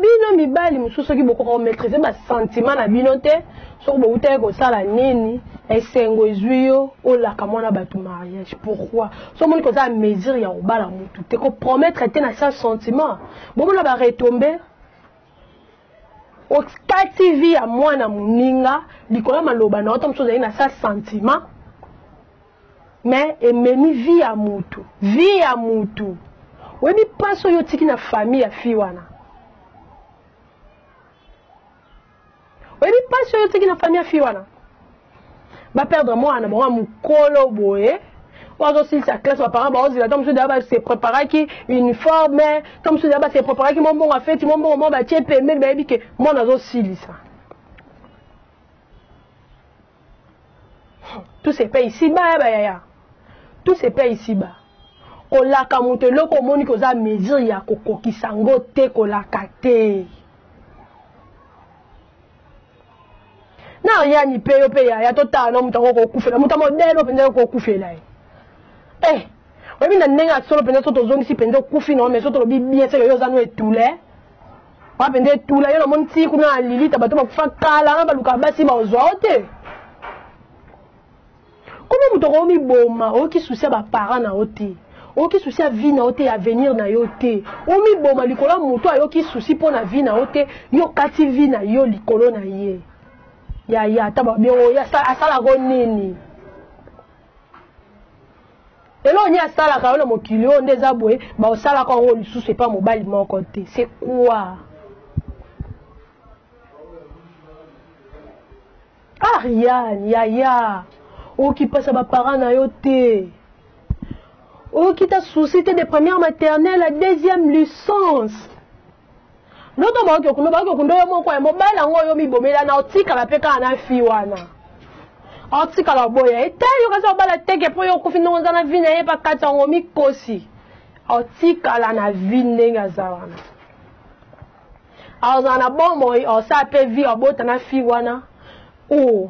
bino mibali mosusu soki bokoka komaîtrise basentiment na bino te soki bowutaki kosala nini esengo ezwi yo olaka mwana bato mariage pourquoi so omoni koza mesure ya kobala motu te kopromettre te na sa sentiment bomona baretombe okati vi ya mwana moninga likolo ya maloba na yo ta mosusu ozali na sa sentiment mais ememi vie ya mutu vie ya mutu oyebi mpasi oyo otiki na famille ya fille wana oyebi mpasi oyo otiki na famille ya fille wana baperdre mwana na bango ya mokolo boye oyo azosilisa classe baparent baozela to mosusu daya base préparaki uniforme to mosusu daya base préparaki mwa mbongo afeti mwa mbongo mwa batie pembeni bayebi ke mwana azosilisa tout se paye ici bas ya bayaya tout se paye ici bas kolaka moto eloko omoni koza mesure ya kokokisa yango te kolaka te na riani mpe yo mpe yaya totala na moto yango kokufela moto ya modele mpenza yo kokufela ye eh oyebi na ndenge ya solo mpenza so tozongisi mpenza okufi na yo mai so tolobi bien seke yo oza no etule wapi nde tula ye namoni ti kuna na lilita bato bakufa kala na balukaka basi baozwa o te komi moto okoo miboma oyoki susi ya baparent na yo te oyoki susi ya vie na yo te ya avenir na yo te omiboma likolo ya moto ayoki susi mpo na vie na yo te yo okati vie na yo likolo na ye yaya ata babio asalako nini eloko nini asalaka yo na mokili oyo nde eza boye baosalaka yango lisusu epa mobali moko te se kua ah yan yaya okipasa baparent na yo te okita souci te de première maternelle ya deuxième licence noto baoki okunda baoki okunda yo moko ya mobali yango oyo mibomela na otikala mpe kaka na fi wana otikala oboya etali okasi obala teke mpo yo okufi ndenge oza na vi na ye pakati yango mikosi otikala na vi ndenge aza wana ozala na bomoi osala mpe vi obota na fi wana o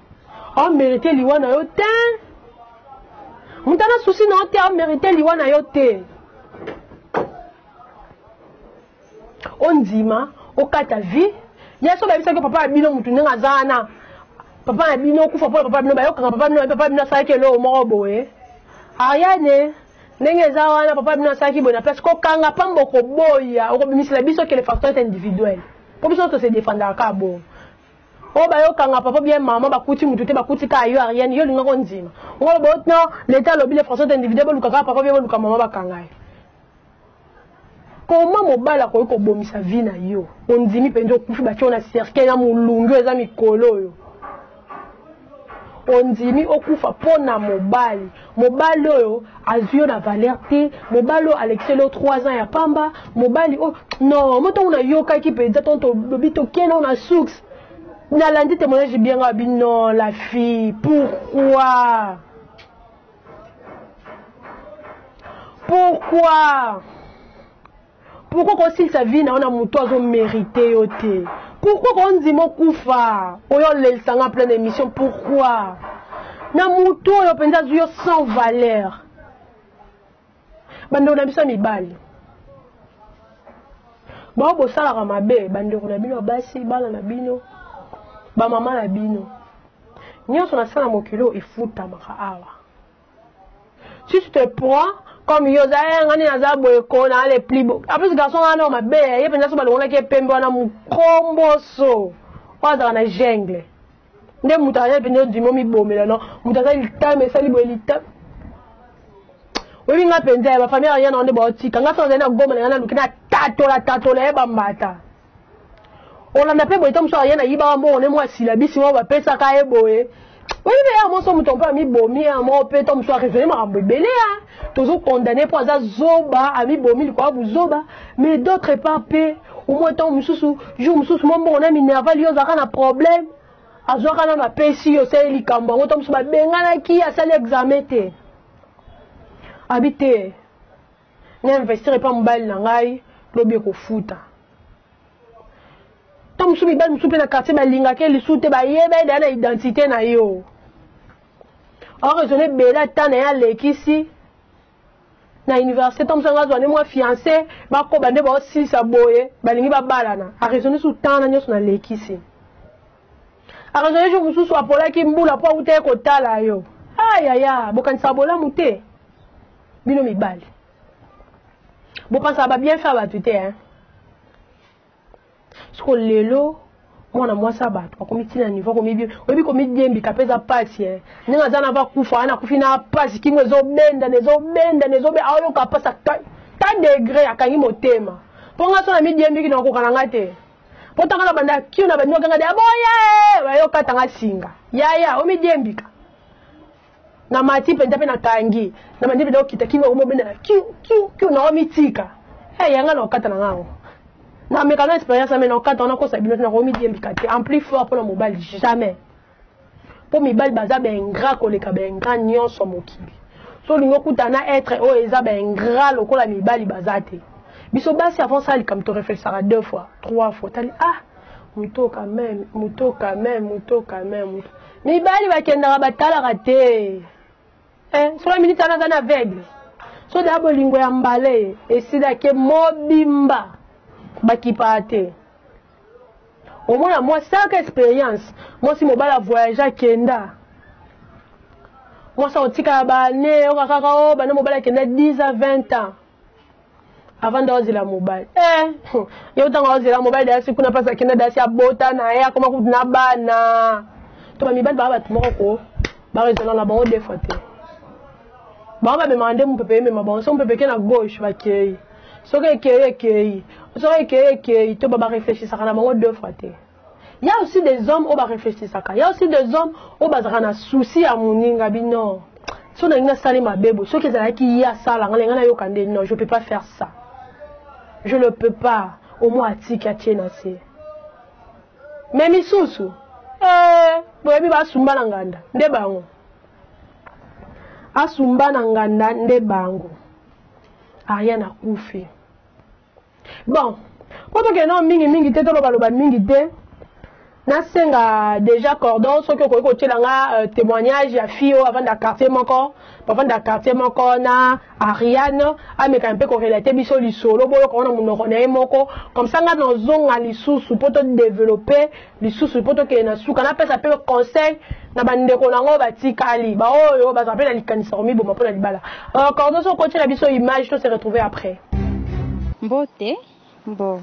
o merite liwa na yo te moto ana susi na yo te o merite liwa na yo te ondima okata vie ya so bayebisaki yo papa ya bino motu ndenge aza wana papa na bino okufa mpo na papa bino bayokaka papa bino papa bino asalaki eloko moko boye ariane ndenge eza wana papa bino asalaki boye na place kokanga pamba okoboya okobimisela biso que le facteur est individuel mpo biso tose defendaka kaka bongo oyo bayokanga papa bien mama bakuti motu te bakuti kaka yo ariane yo olingaka ondima ngo botno leta alobi le français individue boluka kaka papa bien boluka mama bakanga ye koma mobali akoki kobomisa vi na yo ondimi mpenza okufi batyo na cercueil na molungi oyo eza mikolo oyo ondimi okufa mpo na mobali mobali oyo azwi yo na valeur te mobali oyo alekiseli yo 3 ans ya pamba mobali oyo non mo ntango nayokaki mpenza ntango tolobi tokende na source nalandi témoignage bien nga bi non la fille pourquoi pourquoi pourkoi kosilisa vi na yo na motu azo merite yo te pourkoi kondima okufa oyo olelisa nga pleine émission pourkoi na motu oyo mpenza azwi yo sans valeur bandeko na biso ya mibali bango bosalaka mabe bandeko na bino ya basi bana na bino bamama na bino nyonso nasala mokili oyo efutamaka awa si tu te prends comme yo oza eh, ngani naza boye ko na le plus beau en plus garçon wana mabe ye mpenza so balongolaki ye pembe wana mokomboso oyo azalaka na jungle nde moto aza mpenza ondimi omibomela no moto aza litama esali boye litama oyebi nga mpenza ya bafamille ya yana nde baotika nga so azali na goma na nga naluki na tatola tatola ye bambata olanda mpe boye ntango mosusu aye nayiba wa mbongo ne mwa silabisi moko bapesaka ye boye oyebi mpe ya moso moto mpe amibomi ya moko mpe ntango mosusu aresone makambo ebele ya tozokondane mpo aza zoba amibomi likolo ya buzoba mais d'autre part mpe omoi ntango mosusu jour mosusu mwa mbongo na minerval yo ozalaka na problème azwaka nano apesi yo osali likambo yango ntango mosusu babenganaki asali examen te abi te na investir epa mobali na ngai lobi ekofuta ntango mosusu mibali mosusu mpe na quartier balingaka ye lisusu te bayeba ye daya na identité na yo oraisonne ebele ata na ye alekisi na université ntango mosusu anga azwa nde mwa fiance bakoba nde baosilisa boye balingi babalana araisonne su ntana nyonso nalekisi araisonne jour mosusu apolaki mbula mpo autaki kotala yo ayaya bokanisaka bolamu te bino mibali bopansaka babienfait ya bato te hein? siko lelo mwana mwasi ya bato akomi ntina nivo akomi oyebi komidiembika mpe eza mpasi e ndenge aza na bakufa wana akufi na mpasi kingo ezobendana ezobendana ezobe aoyoka mpasi ta degre akangi motema mpo ngai so na midiembiki na okoka na ngai te mpo ntanga na banda kio na bandima kanga de aboye oyoka tanga singa yaya omidiembika na mati mpenza mpe nakangi na mandi mpenza kokita kino omobendela kiu kiu kiu na omitika hey, yanga na okata na ngango nameka na expérience ame na okata wana kosa bino te nakomidiembika te en plus fort mpo na mobali jamais mpo mibali baza baingra koleka baingra nyonso mokili so olingi okuta na etre oyo eza baingra lokola mibali baza te biso basi avant sala likambo toreflexaka deux fois trois fois tali ah moto quand même moto quand même moto quand même moto mibali bakendaka batalaka te eh, sola miniti wana aza na aveugle so da bolingo ya mbale esilaki mobimba bakipaka te omona mwa saka experience mwasi mobali avoyage akenda mwasi akotikala bane oyoka kaka o oh, bana mobali akenda 10 a 20 ans avanda wazela mobali eh, yo ntango awazela mobali dasi kuna mpasi akenda dasi abota na ye akoma kutu na bana to bamibali baa bato moko ko baresona na bango defa te bango bamemaka nde mopepe emema bango so mopepe eke na gauche bakei soki ekei ekei soki ekei ekei to babareflechisaka na bango defa te Il y a aussi des hommes oyo bareflechisaka il y a aussi des hommes oyo bazalaka na souci ya moninga bino so nalingi asali mabe boye soki ezalaki ye asala nga lenga nayoka nde non je peux pas faire ça je ne peux pas omoi atiki atie na se me misusu eh, boyebi basumba na nganda nde bango asumba na nganda nde bango ariane akufi bon mpo tokende nao mingi mingi te tolobaloba mingi te nasenga déjà cordon soki okoki kotyela nga euh, témoignage ya fille oyo avanda quartier moko bavanda quartier moko na ariane amekana mpe korelate biso lisolo boyoka wana monoko na ye moko comme ça nga nazonga lisusu mpo todeveloppe lisusu mpo tokende na suka napesa mpe conseil na bandeko na yango batikali baoyo bazala mpe na likanisa komiboma mpo na libala euh, cordon so okotiela biso image to se retrouve après mbote mbo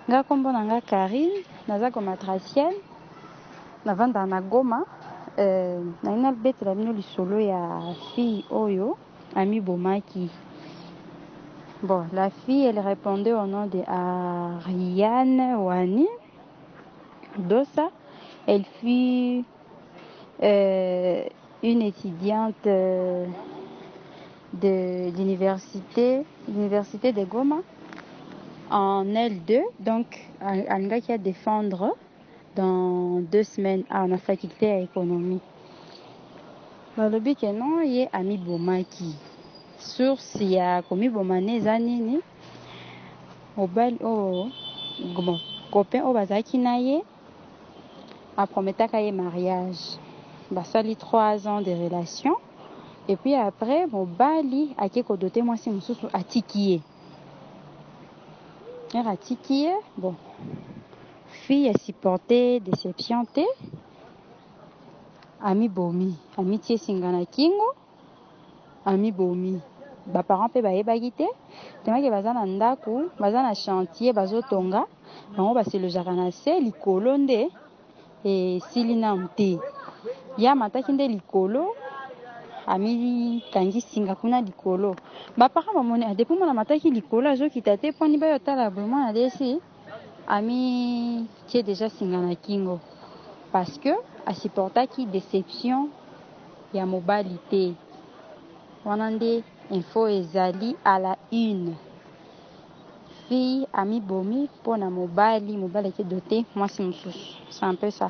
nga nkombo na nga karine naza gomatracienne navandaka na goma euh, naye nabetela bino lisolo ya fille oyo amibomaki bon la fille elle répondait au nom de ariane wani Dossa, elle fut euh, une étudiante euh, de l'université, l'université de Goma en L2, donc alingaki a défendre dans deux semaines à la faculté ya économie. Balobi que non, ye amibomaki. Source ya komiboma ne eza nini? mobali oyo bon copain oyo bazalaki na ye aprometaka ye mariage basali 3 ans de relation et puis après mobali ake kodote mwasi mosusu atiki ye ere atiki ye bon fille asupporte deception te amibomi amitie singa na kingo Amibomi. Ba parents pe bayebaki te tellement que baza na ndaku, baza na chantier bazo tonga, bango ba se logeaka na se, likolo nde esili nanu te. Ye amataki nde likolo, ami kangi singa kuna likolo. Ba parents bamoni ah depuis mwana amataki likolo azo kita te, po ani baye otala boye mwana adesi. amitie deja singa na kingo parce que asupportaki deception ya mobali te wana nde info ezali à la une fille amibomi mpo na mobali mobali ake dote mwasi mosusu c'est un peu ça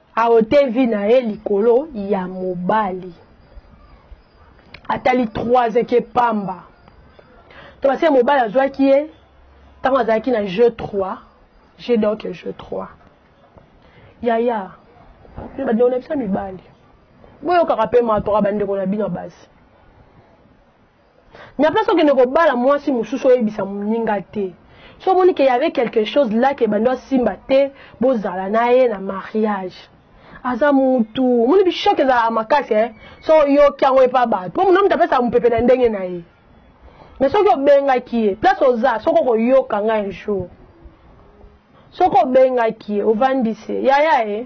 aote vie na ye likolo ya mobali atali 3 eke pamba to basi ya mobali azwaki ye ntango azalaki na jeu 3 je donc jeu 3 yaya bandeko na biso ya mibali boyokaka mpe matoka bandeko na bino ya basi na place okende kobala mwasi mosusu oyebisa moninga te so omoni ke yave quelque chose là ke bando asimba te bozala na ye na mariage aza mutu omoni bishok ezalaka makasi eh? so oyoki yango epa bato mpo monamutu apesaka mopepe na ndenge na ye mais soki obengaki ye place oza soki okoyoka ngai un jour soki obengaki ye ovandisi ye yaya ye eh?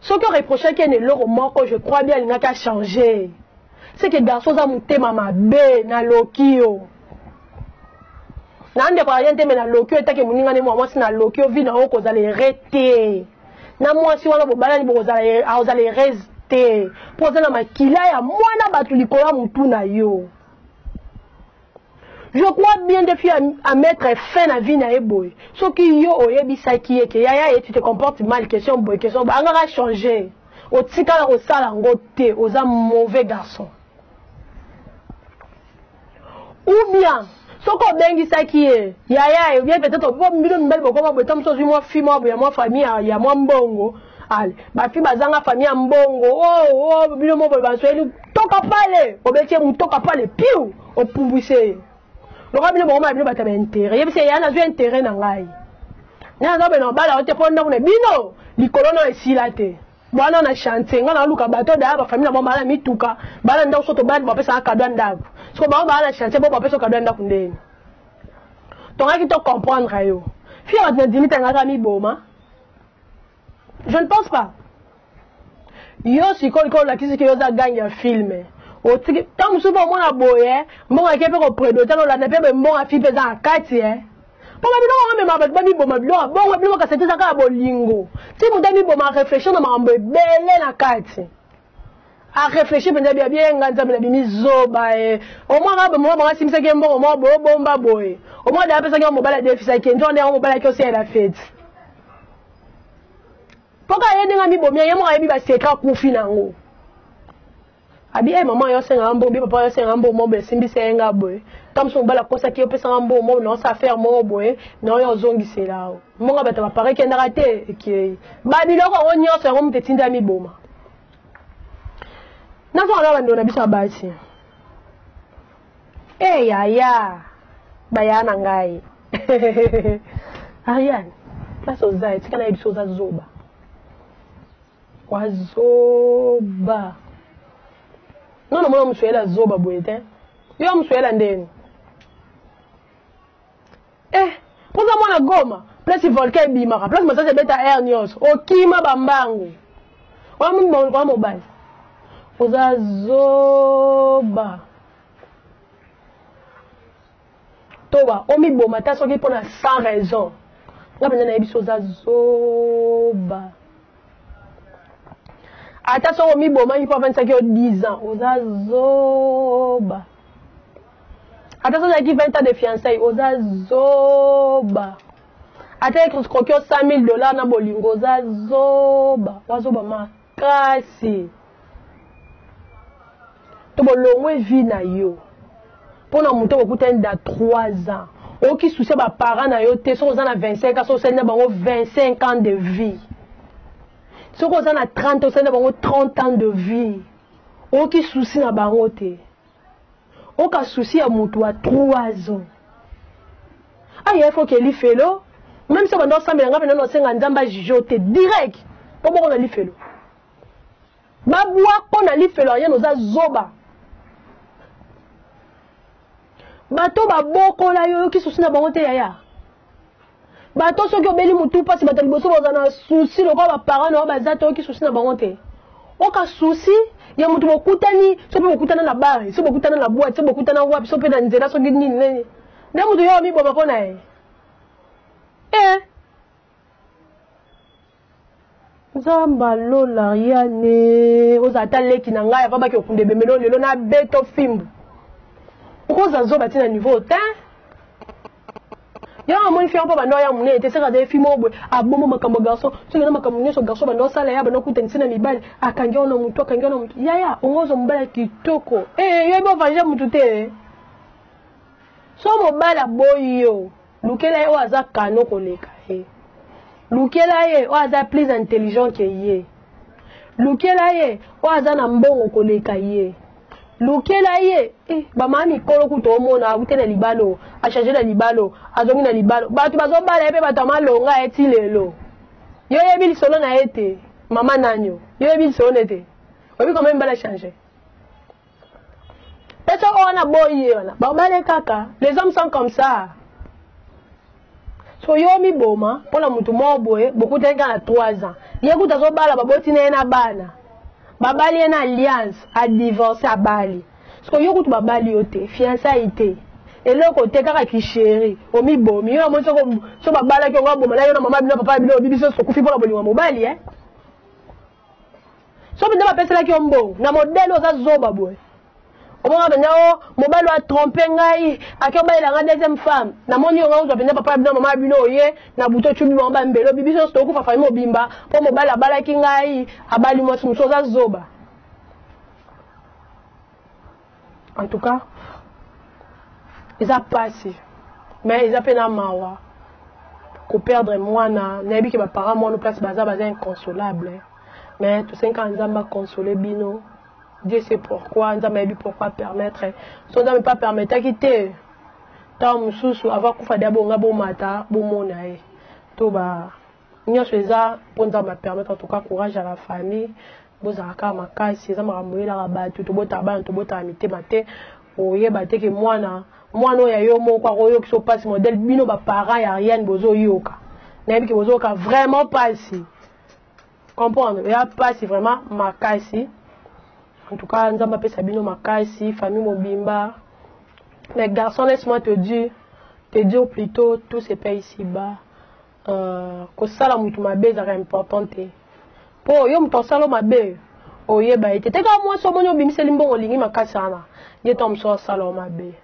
soki o reprochaki ene eloko moko je crois bien alingaki a changer c'est que garçon oza motema mabe naloki yo na ndeko aye nteme naloki yo etake moninga nde mwa mwasi naloki yo vi na yo kozala ere te na mwasi wana bobalani bokozala e, akozala erese te mpo oza na makila ya mwana bato likolo ya motu na yo Je crois bien de fille à, mettre fin à vie na eboy. Ce qui yo oye bisa qui est que yaya et tu te comportes mal question boy question ba angara changer. O tika la osala ngo te oza mauvais garçon. Ou bien soki obengisaki ye yaya ye bien peut-être mpo mbino mibali bokoma boye ntango mosusu ozwi mwa fi mwa boye ya mwa famille ya mwa mbongo ale bafi bazanga famille ya mbongo oh, oh, bino mo boye basoyeli toka pale obeti ye motoka pale piu opumbwise ye lokola bino bokoma bino bato ya baintere yebisi ye ya nazwi intere na ngai ngai naza bena obala yo te mpo ndako na bino likolo na esila te bwana na chantier ngai naluka bato daya bafamile na bango baa na mituka baa na ndako so tobandi bapesaka kado ya ndako soko bango baa na chantier bo bapesa kado ya ndako ndeni tongaki to comprendre yo fia bato na dimita ngai kaka miboma je ne pense pas yo sikoyo likoyo olakisi ke yo oza gangi ya filme otiki ntango mosusu mpe omona boye eh, mbongo yake mpe kopredota nolanda mpe mbongo afi mpe eza na kati e mpo babiloko yango mema bato bamiboma biloko bongo biloko kasi te eza kaka bolingo ti moto amiboma réflexion na makambo ebele na kati areflechi mpenza bia bienga nzambe na bimi zoba e omwaka bamama banga asimisaki ye mbongo moko boye obomba boye omwaka daya apesaki yo mobali adefisaki ye nzongo nde yango mobali ayaki oseyela feti mpo kaka ye ndenge amibomi ye moko ayebi basekre akufi na yango abi e mama yo asengaka mbongo bi papa yo asengaka mbongo moko boye esimbisa ye nga boye ntango mosusu mobali akosaki yo opesanga mbongo moko na osala affaire moko boye na oyo ozongisela yo mbongo bato bapara ekendaka te ekei babiloko yango nyonso yango moto etindi ya miboma nazonga na bandeko na biso ya basi e yaya baya na ngai ariane place oza etika na ye biso oza zoba wazoba nono mona mosuela zoba boye te yo mosuela ndeni Eh, poza mwana Goma, place volcan ebimaka, place masasi ebeta air nyonso, okima bambangu. Wana mobali. Oza zoba. Toba, omiboma ta soki mpona sans raison. Nga mpenza nayebi so oza zoba. ata soki omibomaki mpo afandisaki yo 10 ans oza zoba ata soki ozalaki 20 ans de fiançaille oza zoba ata ekroki yo 100 000 dollars na bolingo oza zoba wazoba makasi to bolongwe vi na yo mpo na moto okokutani da 3 ans oyoki susi ya baparent na yo te soki oza na 25 ans soki osali na bango 25 ans de vie soki oza na 30 osali na bango 30 ans de vie oyoki susi na bango te oka souci ya motu ya 3 ans aya ifo ke lifelo meme so banda osambela ngai mpe nano osenga nzambe ajuge yo te direct mpo boko na lifelo babwa mpo na lifelo ariane oza zoba bato babokola yo oyoki susi na bango te yaya bato soki obeli motu mpasi bato ya liboso baza na susi lokola baparent na yo baza te oyoki susi na bango te oka susi ya moto bokutani soki bokutana na bare soki bokutana na bwate soki bokutana wapi soki mpe na nzela soki nini nini nde moto yo amiboma mpo na ye e nzamba lola riane oza ata leki na ngai avabaki okunda ebemelo lelo na beto fimbu okoza zoba ti na niveau te yango amoni fi yango mpo banda oya monene te seka azali fi moko boye abomo makambo ya garçon soki na makambo nyonso garçon banda osala ya banda okutanisi na mibali akangi wana motu akangi wana motu yaya ongozo mobali ya kitoko ee eh, yoyebi ovange motu te so mobali aboyi yo Lukela ye oyo aza kano koleka ye. Lukela ye oyo aza plus intelligent que ye. Lukela ye oyo aza na mbongo koleka ye. Lukela ye eh, bamama mikolo kutu omona akute na libalo, achange na libalo, azongi na libalo. Bato bazobala ye mpe bato ya malonga ye ti lelo. Yo oyebi lisolo na ye te, mama nanyo. Yo oyebi lisolo na ye te. Oyebi koma mibala change. pete oyo wana boyi ye wana babale kaka les hommes sont comme ça so yo omiboma mpo na motu moko boye bokutaki kaka na 3 ans ye kuta azobala baboti na ye na bana babali ye na alliance adivorce abali siko yo kutu babali yo te fiançai te eloko te kaka kisheri omibomi yo namoni so babalaki yango aboma na yo na mama bino papa bino obibiso sokufi mpo na bolingo ya mobali e eh? soki nde bapeselaki yo mbongo na modele oza zoba boye omona mpenza o oh, mobali oyo atrompe ngai ake obalela ngai deuxième femme namoni yo ngai ozwa mpenza papa ya bino mama ya bino oye na buto ocubi bango bambelo bibiso nyonso tokokufa fami mobimba mpo mobali abalaki ngai abali mwasi mosusu oza zoba en tout cas eza pasi mais eza mpe na mawa koperdre mwana nayebi ke baparent mwana place baza baza inconsolable mais tosengi kaka nzambe aconsole bino dieu se pourquoi nzambe ayebi pourquoi permettre so nzambe mpe apermetaki te ntango mosusu ava kufa de abonga bomata bomona ye to ba nyonso eza mpo nzambe apermettre en tout cas courage à la famille bozala kaka makasi eza makambo oyelaka bato tobotaka bana tobotaka mitema te oyeba te ke mwana mwana oyo ya yo moko akoyokisa mpasi modele bino baparent ya ariane bozoyoka nayebi ke bozoyoka vraiment mpasi comprendre ya mpasi vraiment makasi en tout cas nzambe apesa bino makasi famille mobimba mais garçon laisse moi te dire te dire plutôt tout se paye ici bas Uh, kosala moto mabe ezalaka important te mpo yo moto asala mabe oyeba ye te te kaka mwasi omoni obimiseli mbongo olingi makasi wana ye ntango mosusu asala yo mabe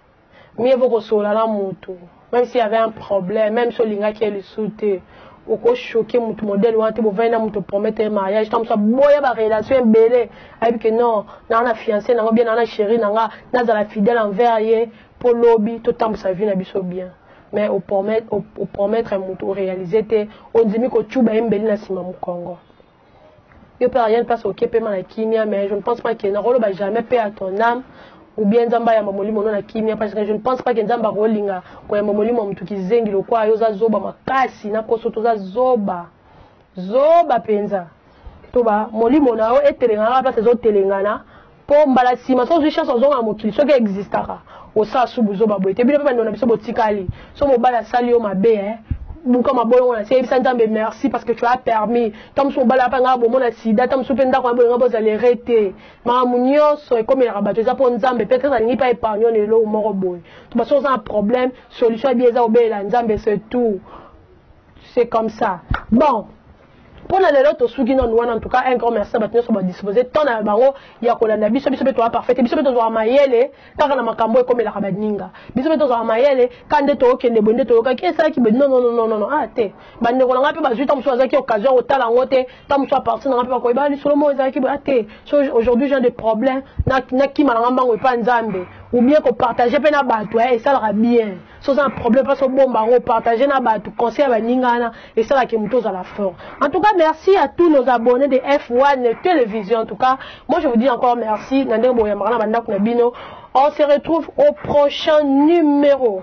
mie vo kosolola na moto même s'il y avait un problème même si olingaki ye lisusu te okoshoke moto modele wana te bovandi na moto promettre mariage ntango mosusu aboya barelation ebele ayebi ke non naa na fiance nango bien naa na chéri na nga nazala fidèle envers ye po lobi totambusa vie na biso bien mais opromettre motu orealise te ondimi kocuba ye mbeli na nsima mokongo yo mpe ariane place okie pema na kimia mais je ne pense pas ke nakoloba jamais mpe à ton âme ou bien nzambe ayamba molimo no na kimia parce que je ne pense pas ke nzambe akolinga koyamba molimo ya motu kizengi lokwa yo oza zoba makasi na poso toza zoba Zoba penza. Toba molimo na yo etelengana kaka place ezo telengana po mbala sima so ozui chance ozonga mokili soki existaka osala su buzoba boye te bino pe bandeko na biso botikali so mobali asali yo mabe eh buka mabolongo na se yebisa nzambe merci parce que tu as permis ta mosusu mobali apa ngai bomona sida ta mosusu mpe ndako na bolinga bozala ere te makambo nyonso ekomelaka bato eza mpo nzambe mpe tete alingi mpe épargne na eloko moko boye to basoki oza na problème solution ya bie eza kobelela nzambe se tout c'est comme ça bon mpo na lelo tosuki nanu wana en tout cas un grand merci na bato nyonso badispose temps na bango ya kolanda biso biso mpe toa parfait te biso mpe tozwaka mayele kaka na makambo ekomelaka baninga biso mpe tozwaka mayele ka nde tookende boye nde toyokaki esalaki boye nonononono a ah, te bandeko na ngai mpe bazwi ntango mosusu azalaki occasion ya kotala yango te ntango mosusu apartir na ngai mpe bakoyeba ah, lisolo moko ezalaki boye a ah, te so aujourd'hui genre de problème nakima na ngai mbango epa nzambe ou bien kopartage mpe na bato eh, esalaka bien so oza na problème mpasi obomba yango opartage na bato conseil ya baninga wana esalaki moto ozala fort en tout cas merci à tous nos abonnés de f1 télévision en tout cas moi je vous dis encore merci na ndenge boyambaka na bandako na bino on se retrouve au prochain numéro